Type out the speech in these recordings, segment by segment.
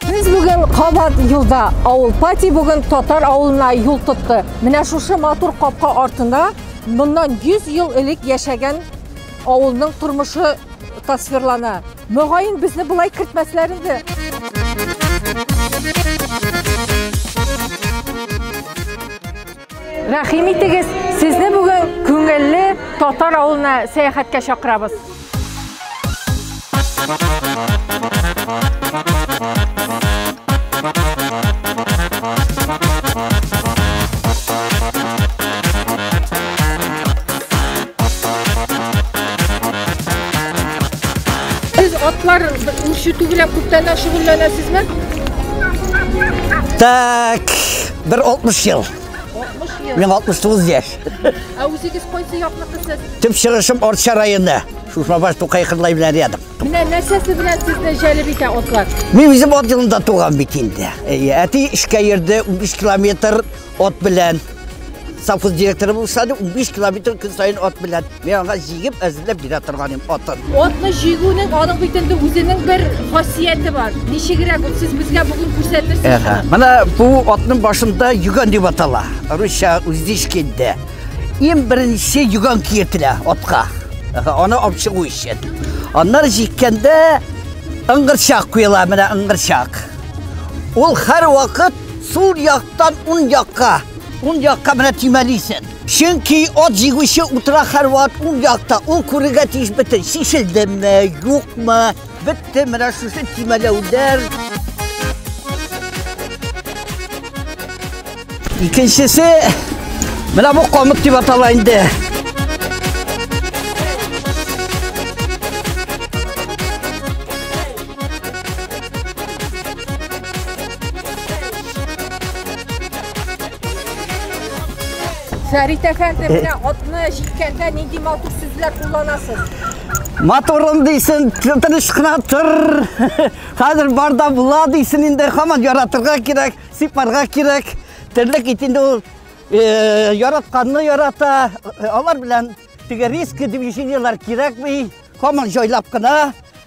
Без бүген кабат юлда. Авыл пати бүген татар авылына юл тотты. Менә шушы матур капка артында моннан 100 ел элек яшәгән авылның тормышы тасвирлана. Мөгаен безне болай кертмәсләр иде. Рәхим итегез, сезне бүген күңелле татар авылына сәяхәткә чакырабыз. атлар үрчету белән күптәннән шөгыльләнәсезме? Так. Бер 60 ел. 60 ел. Мин 69 яшь. Ә үзегез кайсы якныкы сез? Төп чыгышым Орча районы. Шушмабаш Тукай кырлай белән рядом. Менә нәрсәсе белән сезне җәлеп итә атлар? Мин үзем ат елында туган бит инде. Әти эшкә йөрде 15 километр ат белән. Совхоз директоры булса, 15 километр көн сайын ат белән. Мин аңа җигеп әзерләп бирә торган идем атын. Атны җигүнең аның бит инде үзенең бер хасияте бар. Ничегрәк ул сез безгә бүген күрсәтерсез? Әһә. Менә бу атның башында юган дип атала. Русча уздишки дә. Иң беренче юган киетелә атка. Әһә, аны алып чыгу өчен. Аннары җиккәндә ыңгырчак куела, менә ыңгырчак. Ул һәрвакыт сул яктан уң якка, уң якка менә тимәлисен. Чөнки ат җигүче утыра һәрвакыт ул якта, ул күрергә тиеш бөтен, чишелдеме, юкмы, бетте, менә шушы тимәләүләр. Икенчесе, менә бу камыт дип атала инде. Фәрит әфәнде, менә атны җиккәндә нинди матур сүзләр кулланасыз? Моторым дейсен, тыныш кына тор. Хәзер барда була дейсен инде, хаман яратырга кирәк, сипарга кирәк. Терлек ит инде ул э, яратканны ярата. Алар белән теге риск движениелар кирәкми. Хаман җайлап кына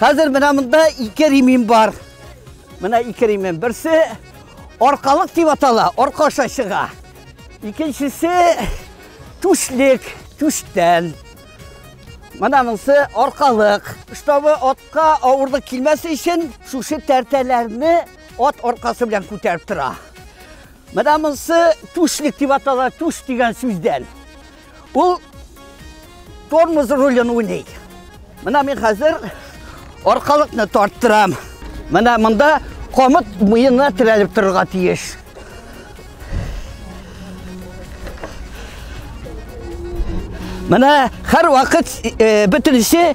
Хәзер менә монда ике ремим бар. Менә ике ремим. Берсе аркалык дип атала, арка аша чыга. Икенчесе түшлек, түштән. Менә монысы аркалык. Штабы атка авырлык килмәс өчен шушы тәртәләрне ат аркасы белән күтәреп тора. Менә монысы түшлек дип атала, түш дигән сүздән. Ул тормоз рулен уйный. Менә мин хәзер аркалыкны тарттырам. Менә монда камыт муенына терәлеп торырга тиеш. Менә һәр вакыт э, бөтенесе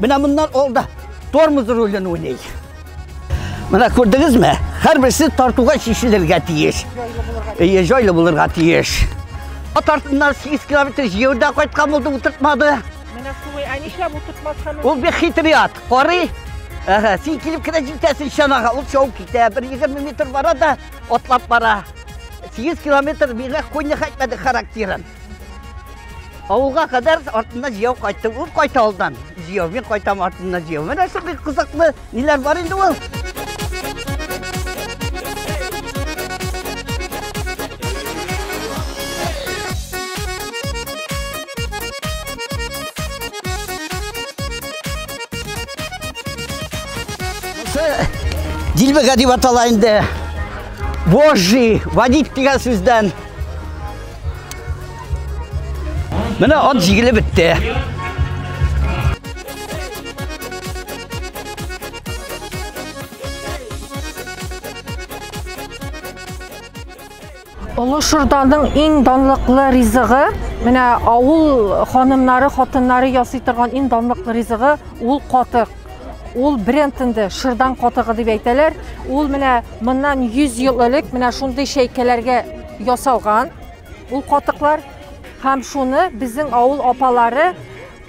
Менә моннан алда тормоз ролен уйный. Менә күрдегезме? Һәрберсе тартуга чишелергә тиеш. Әйе, җайлы булырга тиеш. Ат артыннан 8 километр җыюда кайткан булды, утыртмады. Менә шулай, ә нишләп утыртмаска Ул бик хитрый ат. Карый. Әһә, син килеп кенә җитәсең чанага. Ул шау китә, бер 20 метр бара да атлап бара. 8 километр миңа конья хәтмәде характерын. Авылга кадәр артында җияу кайтты. Ул кайта алдан. Җияу, мин кайтам артында җияу. Менә шул бик кызыклы ниләр бар инде ул. Дилбега дип атала инде. Божий, водить дигән сүздән Менә ат җигеле бетте. Олы Шырданың иң данлыклы ризыгы, менә авыл ханымнары, хатыннары ясый торган иң данлыклы ризыгы ул катык. Ул бренд инде шырдан катыгы дип әйтәләр. Ул менә моннан 100 ел элек менә шундый чәйкәләргә ясалган. Ул катыклар һәм шуны безнең авыл апалары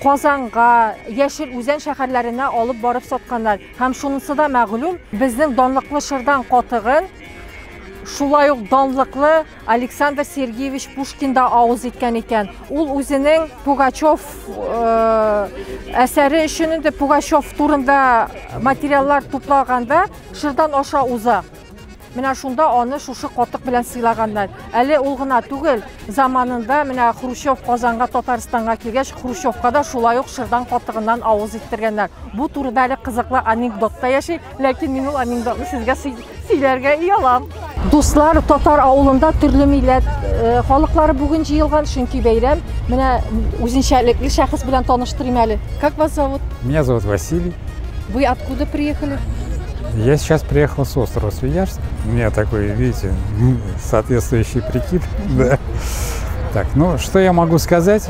Казанга, Яшел Үзән шәһәрләренә алып барып сатканнар. Һәм шунысы да мәгълүм, безнең данлыклы шырдан катыгын шулай ук данлыклы Александр Сергеевич Пушкин да авыз иткән икән. Ул үзенең Пугачев э, әсәре өчен инде Пугачев турында материаллар туплаганда шырдан аша уза. Менә шунда аны шушы котык белән сыйлаганнар. Әле ул гына түгел, заманында менә Хрущев Казанга, Татарстанга килгәч, Хрущевка да шулай ук шырдан котыгыннан авыз иттергәннәр. Бу турыда әле кызыклы анекдот та яши. Ләкин мин ул анекдотны сезгә сөйләргә оялам. Дуслар, татар авылында төрле милләт э, халыклары бүген җыелган, чөнки бәйрәм. Менә үзенчәлекле шәхес белән таныштырыйм әле. Как вас зовут? Меня зовут Василий. Вы откуда приехали? Я сейчас приехал с острова Свияжск. У меня такой, видите, соответствующий прикид. Да. Так, ну что я могу сказать?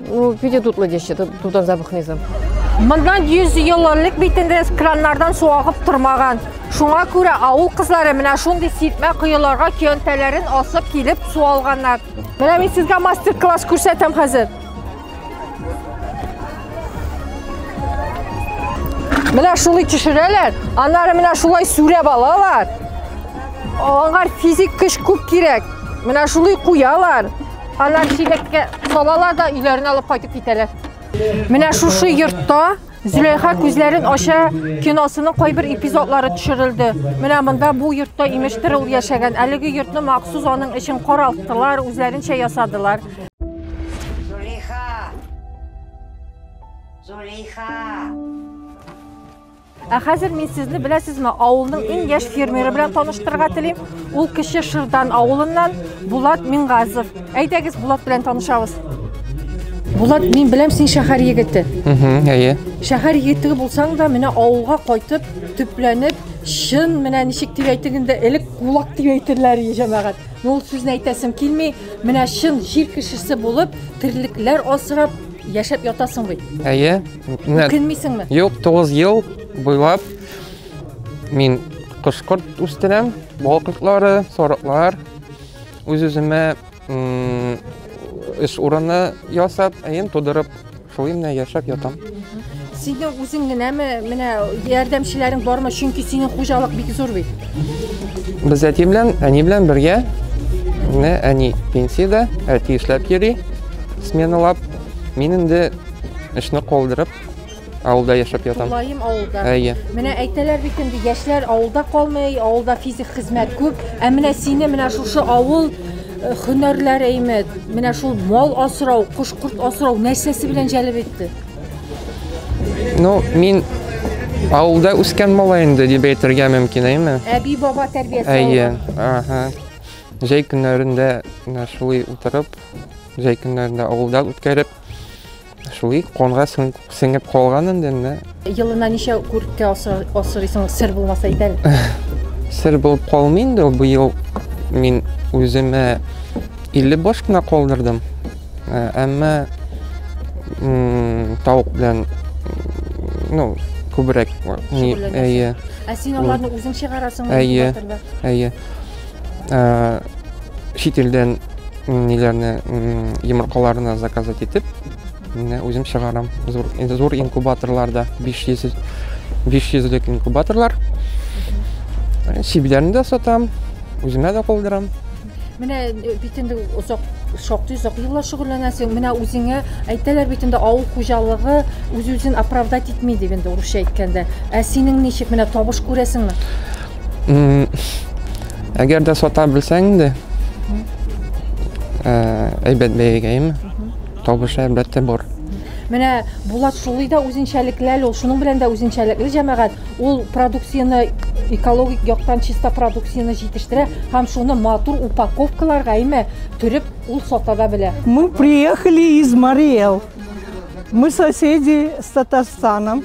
Ну, виде тут надеще, тут он запах низом. Мондан 100 ел элек бит инде краннардан су агып тормаган. Шуңа күрә авыл кызлары менә шундый сиртмә коеларга көянтәләрен асып килеп су алганнар. Менә мин сезгә мастер-класс күрсәтәм хәзер. Менә шулай төшерәләр, аннары менә шулай сүрәп алалар. Аңар физик көч күп кирәк. Менә шулай куялар. Алар чиләккә салалар да өйләренә алып кайтып китәләр. Менә шушы йортта Зөләйха күзләрен ача киносының кайбер эпизодлары төшерелде. Менә монда бу йортта имештер ул яшәгән. Әлеге йортны махсус аның өчен каралттылар, үзләренчә ясадылар. Зөләйха! Зөләйха! Ә хәзер мин сезне беләсезме, авылның иң яшь фермеры белән таныштырырга телим. Ул кеше Шырдан авылыннан Булат Мингазов. Әйдәгез Булат белән танышабыз. Булат, мин беләм син шәһәр егете. Угу, әйе. Шәһәр егете булсаң да, менә авылга кайтып, төпләнеп, чын менә ничек дип әйтгәндә, элек кулак дип әйтерләр иде җәмәгать. Ул сүзне әйтәсем килми, менә чын җир кешесе булып, терлекләр асрап, яшәп ятасың бит. Әйе. Үкенмисеңме? Юк, 9 ел буйлап мин кошкорт үстерәм, бал кортлары, сорыклар. Үз-үземә эш урыны ясап, әйем тудырып, шулай менә яшәп ятам. Синең үзең генәме, менә ярдәмчеләрең бармы? Чөнки синең хуҗалык бик зур бит. Без әти белән, әни белән бергә. Менә әни пенсиядә, әти эшләп йөри, сменалап. Мин инде эшне калдырып, авылда яшәп ятам. Тулаем авылда. Әйе. Менә әйтәләр бит инде яшьләр авылда калмый, авылда физик хезмәт күп. Ә менә сине менә шушы авыл э, хөнәрләр әйме, менә шул мал асрау, кош-корт асрау нәрсәсе белән җәлеп итте? Ну, мин авылда үскән малай инде дип әйтергә мөмкин, әйме? Әби баба тәрбиясе. Әйе. Ага. Җәй көннәрендә менә шулай утырып, җәй көннәрендә авылда үткәреп, шулай конга сеңеп калган инде менә. Елына ничә күркә асырыйсың, сер булмаса әйт әле. Сер булып калмый инде ул. Быел мин үземә 50 баш кына калдырдым. Ә, әмма тавык белән ну, күбрәк. Әйе. Ә син аларны үзең чыгарасыңмы? Әйе. Әйе. ә, чит илдән ниләрне йомыркаларны заказать итеп менә үзем чыгарам зур инде зур инкубаторларда 500 500лек инкубаторлар сибиләрне дә сатам үземә дә калдырам менә э, бит инде озак шактый озак еллар шөгыльләнәсең менә үзеңә әйтәләр бит инде авыл хуҗалыгы үз үзен оправдать итми дип инде урысча әйткәндә ә синең ничек менә табыш күрәсеңме Әгәр дә сата белсәң инде, әйбәт бәягә, әйме? Табышы әлбәттә бар. Менә Булат шулай да үзенчәлекле ул, шуның белән дә үзенчәлекле җәмәгать. Ул продукцияне экологик яктан чиста продукцияне җитештерә һәм шуны матур упаковкаларга, әйме, төреп ул сата да белә. Мы приехали из Мариэл. Мы соседи с Татарстаном.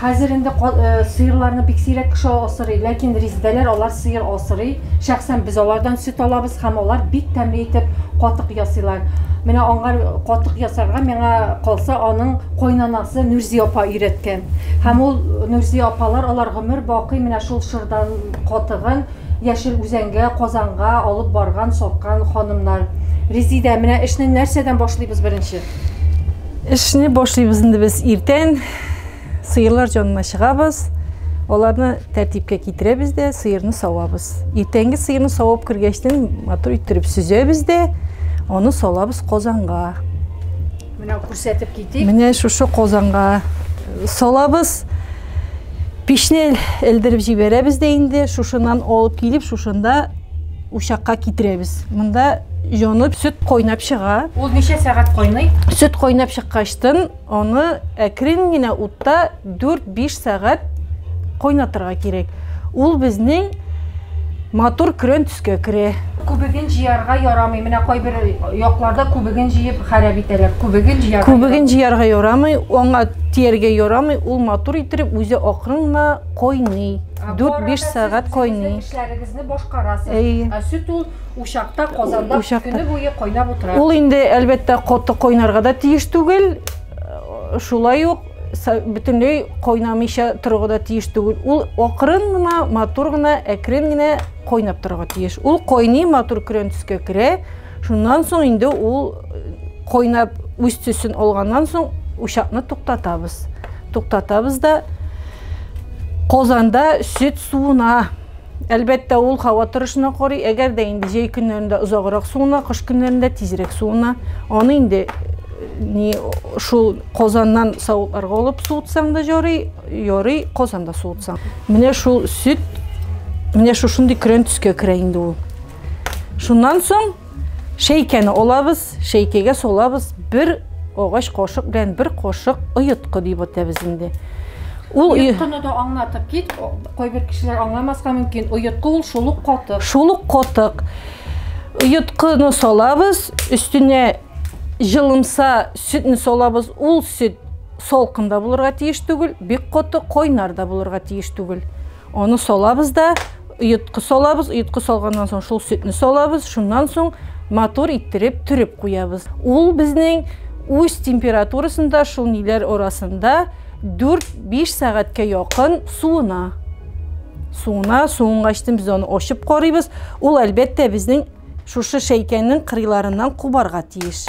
Хәзер инде сыерларны бик сирәк кеше асырый, ләкин риздәләр алар сыер асырый. Шәхсән без алардан сөт алабыз һәм алар бик тәмле итеп катык ясыйлар. Менә аңа катык ясарга миңа калса аның кайнанасы Нурзи апа өйрәткән. Һәм ул Нурзи апалар алар гомер бакый менә шул шырдан катыгын Яшел Үзәнгә, Казанга алып барган, саткан ханымнар. Резидә, менә эшне нәрсәдән башлыйбыз беренче? Эшне башлыйбыз инде без иртән. Сыерлар җанына чыгабыз. Аларны тәртипкә китерәбез дә, сыерны савабыз. Иртәнге сыерны савып кергәчтен матур иттереп сөзәбез дә, аны салабыз казанга. Менә күрсәтеп китик. Менә шушы казанга салабыз. Пешне элдереп җибәрәбез дә инде, шушыннан алып килеп, шушында Учакка китерәбез. Монда җонып сөт кайнап чыга. Ул ничә сәгать кайный? Сөт кайнап чыккачтын, аны әкрен генә утта 4-5 сәгать кайнатырга кирәк. Ул безнең матур көрән төскә керә. Күбеген җыярга ярамый. Менә кайбер якларда күбеген җыеп хәрәп итәләр. Күбеген җыярга. Күбеген җыярга ярамый, аңа тияргә ярамый. Ул матур итеп үзе акрын гына кайный. 4-5 сәгать кайный. Сезне башкарасыз. Әйе. Ә сөт ул учакта, казанда Учакта. көне буе кайнап утыра. Ул инде әлбәттә каты кайнарга да тиеш түгел. Э, Шулай ук са- бөтенләй кайнамыйча торырга да тиеш түгел. Ул акрын гына, матур гына, әкрен генә кайнап торырга тиеш. Ул кайный, матур көрән төскә керә. Шуннан соң инде ул э, кайнап үз төсен алганнан соң учакны туктатабыз. Туктатабыз да казанда сөт суына Әлбәттә, ул һава торышына карый. Әгәр дә инде җәй көннәрендә озаграк суына, кыш көннәрендә тизрәк суына, аны инде не шул Казаннан савытларга алып суытсаң да ярый, ярый Казанда суытсаң. Менә шул сөт, менә шушындый көрән төскә керә инде ул. Шуннан соң Шәйкәне алабыз, шәйкәгә салабыз, бер агач кашык белән бер кашык оеткы дип атабыз инде. Ул оеткыны да аңлатып кит, кайбер кешеләр аңламаска мөмкин. Оеткы ул шул ук катык. Шул ук катык. Оеткыны салабыз, өстенә җылымса сөтне салабыз. Ул сөт салкын да булырга тиеш түгел, бик каты, кайнар да булырга тиеш түгел. Аны салабыз да, йотқы салабыз, йотқы салганнан соң шул сөтне салабыз, шуннан соң матур иттереп төреп куябыз. Ул безнең үз температурасында, шул ниләр арасында 4-5 сәгатькә якын суына. Суына, суынгачтын без аны ачып карыйбыз. Ул әлбәттә безнең шушы шәйкәнең кырыйларыннан кубарга тиеш.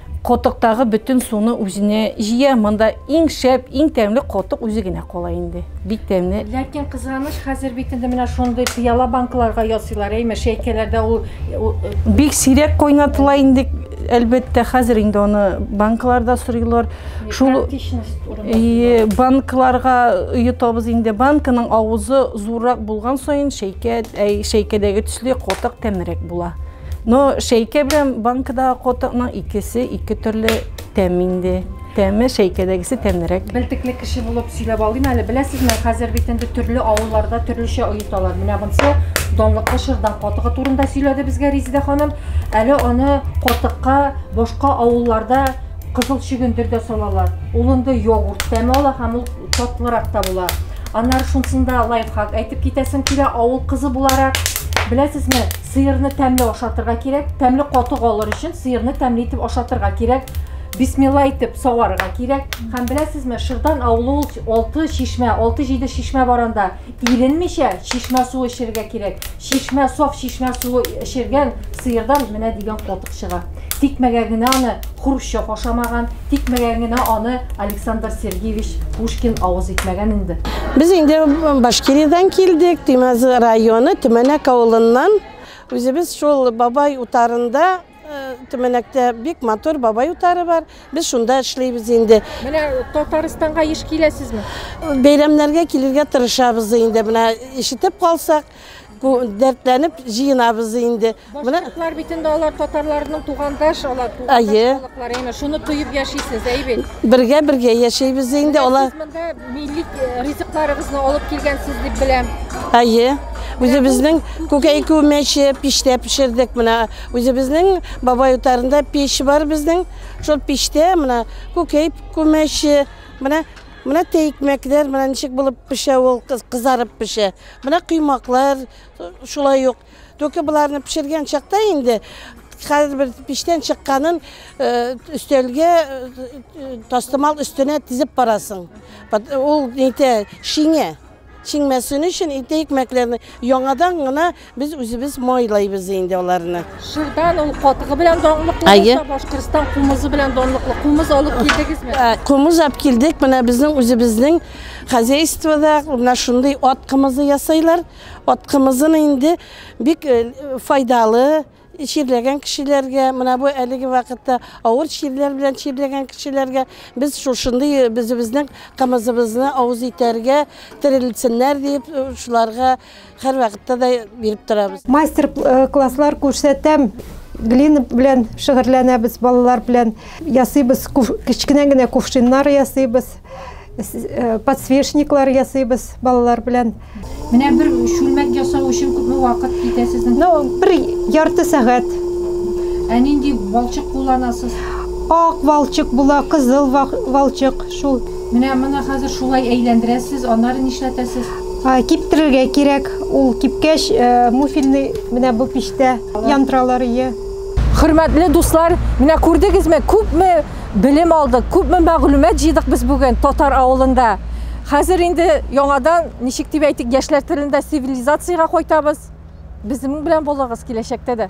Котыктагы бөтен суны үзенә җыя. Монда иң шәп, иң тәмле котык үзе генә кала инде. Бик тәмле. Ләкин кызганыч, хәзер бит инде менә шундый пыяла банкаларга ясыйлар, әйме, шәйкәләрдә ул бик сирәк кайнатыла инде, әлбәттә, хәзер инде аны банкаларда сорыйлар. Шул банкаларга йотабыз инде. Банканың авызы зуррак булган саен шәйкә, шәйкәдәге төсле котык тәмрәк була. Но шәйкә белән банкадагы котыкның икесе ике төрле тәм инде. Тәме шәйкәдәгесе тәмлерәк. Белтекле кеше булып сөйләп алыйм әле. Беләсезме, хәзер бит инде төрле авылларда төрлечә оеталар. Менә монсы донлыклы шырдан котыгы турында сөйләде безгә Резидә ханым. Әле аны котыкка башка авылларда кызыл чөгендер дә салалар. Ул инде йогурт тәме ала һәм ул татлырак та була. Аннары шунсында лайфхак әйтеп китәсем килә авыл кызы буларак. Беләсезме, Сыерны тәмле ашатырга кирәк. Тәмле катык алыр өчен сыерны тәмле итеп ашатырга кирәк. Бисмилла итеп саварга кирәк. Һәм беләсезме, Шырдан авылы ул 6 чишмә, 6-7 чишмә бар анда. Иренмичә чишмә суы эчәргә кирәк. Чишмә, саф чишмә суы эчергән сыердан менә дигән катык чыга. Тикмәгә генә аны Хрущев ашамаган, тикмәгә генә аны Александр Сергеевич Пушкин авыз итмәгән инде. Без инде Башкириядән килдек, Тимәз районы, Төмәнәк авылыннан. Үзебез шул бабай утарында э, Төмәнәктә бик матур бабай утары бар. Без шунда эшлибез инде. Менә Татарстанга еш киләсезме? Бәйрәмнәргә килергә тырышабыз инде. Менә ишетеп калсак, Бу дәртләнеп җыенабыз инде. Башкортлар бит инде алар татарларның тугандаш алар. Әйе. Халыклар шуны тоеп яшисез, әй бит. Бергә бергә яшәйбез инде алар. Сез монда милли э, ризыкларыгызны алып килгәнсез дип беләм. Әйе. Үзебезнең күкәй күмәче пиштә пешердек менә. Үзебезнең бабай утарында пеш бар безнең. Шул пиштә менә күкәй күмәче, менә менә тәйкмәкләр, менә ничек булып пешә ул, кызарып пешә. Менә коймаклар шулай ук. Только боларны пешергән чакта инде хәзер бер пиштән чыкканын өстәлгә тастымал өстенә тизеп барасың. Ул нитә шиңә. Шиңмәсен өчен инде икмәкләрне яңадан гына без үзебез майлайбыз инде аларны. Шырдан ул катыгы белән данлыклы булса, Башкортстан кумызы белән данлыклы. Кумыз алып килдегезме? Кумыз алып килдек. Менә безнең үзебезнең Хозяйствода менә шундый ат кымызы ясайлар. Ат кымызын инде бик файдалы чирләгән кешеләргә, менә бу әлеге вакытта авыр чирләр белән чирләгән кешеләргә без шушындый безебезнең кымызыбызны авыз итәргә терелсеннәр дип шуларга Хәр вакытта да биреп торабыз. Мастер класслар күрсәтәм. Глина белән шигырьләнәбез балалар белән. Ясыйбыз, кечкенә генә кувшиннар ясыйбыз. Э, подсвечниклар ясыйбыз балалар белән. Менә бер шүлмәк ясау өчен күпме вакыт китә сезнең? Ну, бер ярты сәгать. Ә нинди балчык кулланасыз? Ак балчык була, кызыл балчык, шул. Менә моны хәзер шулай әйләндерәсез, аннары нишләтәсез? Киптерергә кирәк, ул кипкәч, э, муфильный менә бу пиштә янтралар ие. Хөрмәтле дуслар, менә күрдегезме, күпме белем алдык, күпме мәгълүмат җыйдык без бүген татар авылында. Хәзер инде яңадан, ничек дип әйтик, яшьләр телендә цивилизациягә кайтабыз. Безнең белән булыгыз киләчәктә дә.